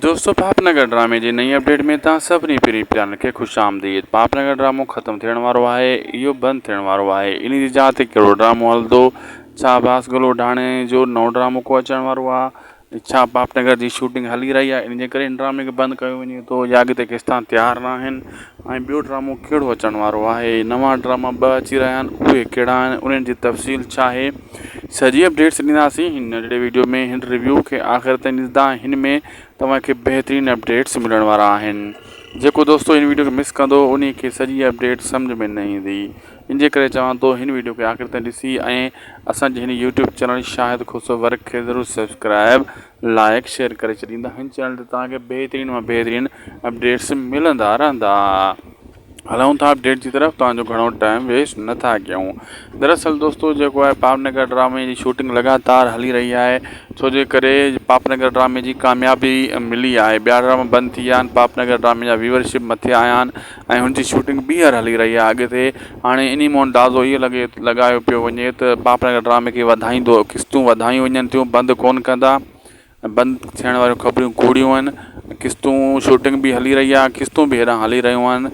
دوستو پاپ نگر ڊرامي جي نئين اپڊيٽ ۾ توهان سڀني پرين پيارن کي خوش آمديد پاپ نگر ڊرامو ختم ٿيڻ وارو آهي اهو بند ٿيڻ وارو آهي انهي جي جاء تي ڪهڙو ڊرامو هلندو ڇا باس گلوڊاڻي جو نئون ڊرامو ڪو اچڻ وارو آهي ڇا پاپ نگر جي شوٽنگ هلي رهي آهي انهي جي ڪري هن ڊرامي کي بند ڪيو وڃي ٿو يا اڳتي ڪيستان تيار ناهن ۽ ٻيو ڊرامو ڪهڙو اچڻ وارو آهي نوان ڊراما ٻه اچي رهيا آهن اهي ڪهڙا آهن انهن جي تفصيل ڇا آهي سڄي اپڊيٽس ڏينداسين هن ننڍڙي وڊيو ۾ هن ريويو کي آخر تائين ڏسندا هن ۾ توهان کي بهترين اپڊيٽس ملڻ وارا آهن جيڪو دوستو هن وڊيو کي مس ڪندو انهي کي سڄي اپڊيٽ سمجهه ۾ نه ايندي ان جي ڪري چوان ٿو هن وڊيو کي آخر تائين ڏسي ۽ اسان جي هن YouTube channel Shahid Khoso work کي ضرور سبسڪرائب لائيڪ شيئر ڪري ڇڏيندا ھن چينل تي توھان کي بھترين مان بھترين اپڊيٽس ملندا رھندا ھلون ٿا اپڊيٽ جي طرف توھان جو گھڻو ٽائيم ويسٽ نٿا ڪيون دراصل دوستو جيڪو آھي پاپ نگر ڊرامي جي شوٽنگ لگاتار ھلي رھي آھي ڇو جي ڪري پاپ نگر ڊرامي جي ڪاميابي ملي آھي ٻيا ڊراما بند ٿي ويا آھن پاپ نگر ڊرامي جا ويورشپ مٿي آيا آھن ۽ هن جي شوٽنگ ٻيهر هلي رهي آهي اڳتي هاڻي انهي مون اندازو هيء لڳي لڳايو پيو وڃي ته پاپڙنگر ڊرامي کي وڌائيندو قسطون وڌايون وڃن ٿيون بند ڪون ڪندا ۽ بند ٿيڻ واريون خبريون ڪوڙيون آهن قسطون شوٽنگ به هلي رهي آهي قسطون به هيڏانهن هلي رهيون آهن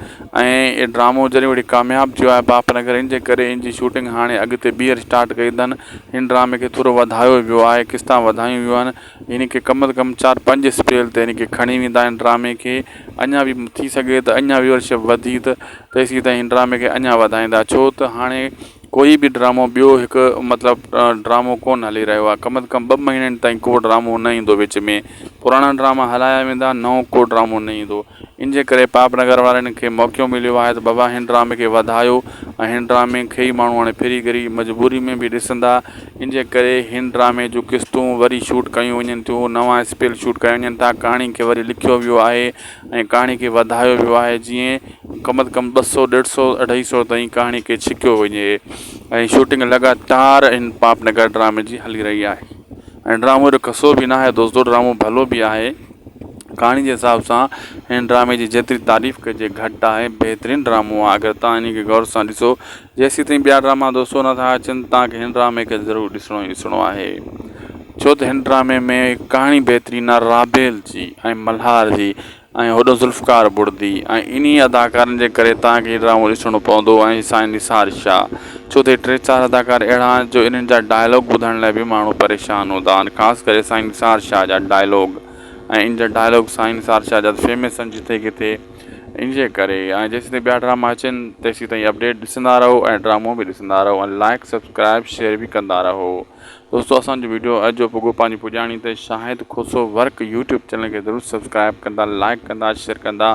۽ هي ڊرامو جڏهن وڙي ڪامياب ٿيو آهي پاپڙنگر ان جي ڪري ان جي شوٽنگ هاڻي اڳتي ٻيهر اسٽارٽ ڪئي اٿن هن ڊرامي کي ٿورو وڌايو ويو آهي قسطا وڌايون ويون آهن يعني ڪي ڪم از ڪم چار پنج اسپيل تي يعني ڪي کڻي ويندا آهن ڊرامي کي اڃا به ٿي سگهي ته اڃا ويورشپ وڌي ته تيسين تائين هن ڊرامي کي اڃا وڌائيندا ڇو ته هاڻي ڪوئي به ڊرامو ٻيو هڪ مطلب ڊرامو ڪون هلي رهيو آهي ڪم از ڪم ٻه مهينن تائين ڪو ڊرامو نه ايندو وچ ۾ پراڻا ڊراما هلايا ويندا نئون ڪو ڊرامو نه ايندو ان جي ڪري پاپ نگر وارن کي موقعو مليو آهي ته بابا هن ڊرامي کي وڌايو ۽ هن ڊرامي کي ئي ماڻهو هاڻي ڦري گهري مجبوري ۾ به ڏسندا ان جي ڪري هن ڊرامي جون قسطون وري شوٽ ڪيون وڃن ٿيون نوان اسپيل شوٽ ڪيا وڃن ٿا ڪهاڻي کي وري لکيو ويو آهي ۽ ڪهاڻي کي وڌايو ويو آهي جيئن ڪم از ڪم ٻه سؤ ڏيڍ سؤ اڍائي سؤ تائين ڪهاڻي کي ڇڪيو وڃي ۽ شوٽنگ لڳاتار هن پاپ نگر ڊرامي جي هلي رهي آهي ۽ ڊرامو ايڏو کسو به ناهي دوستو ڊرامو ڀلو به آهي. ڪهاڻي جي حساب سان هن ڊرامي جي جيتري تعريف ڪجي گهٽ آهي بهترين ڊرامو آهي اگر توهان انهي کي غور سان ڏسو جيسين تائين ٻيا ڊراما دوستو نٿا اچن توهان کي هن ڊرامي کي ضرور ڏسڻو ئي ڏسڻو آهي ڇو ته هن ڊرامي ۾ ڪهاڻي بهترين آهي رابيل جي ۽ ملهار جي ۽ هوڏو ذوالفقار بڙدي ۽ انهي اداڪارن جي ڪري توهان کي هي ڊرامو ڏسڻو پوندو ۽ سائين نثار شاهه ڇو ته ٽي چار اداڪار اهڙا آهن جو انهن جا ڊائلاگ ٻڌڻ لاء به ماڻهو پريشان هوندا آهن خاص ڪري سائين نثار شاهه جا ڊائلاگ ۽ ان جا ڊائلاگ سائين نثار شاهه جا فيمس آهن جتي ڪٿي ان جي ڪري ۽ جيسين تائين ٻيا ڊراما اچن تيسين تائين اپڊيٽ ڏسندا رهو ۽ ڊرامو به ڏسندا رهو ۽ لائڪ سبسڪرائب شيئر به ڪندا رهو دوستو اسانجو ويڊيو اڄ جو پڳو پنهنجي پڄاڻي تي Shahid Khoso work YouTube channel کي ضرور سبسڪرائب ڪندا لائڪ ڪندا شيئر ڪندا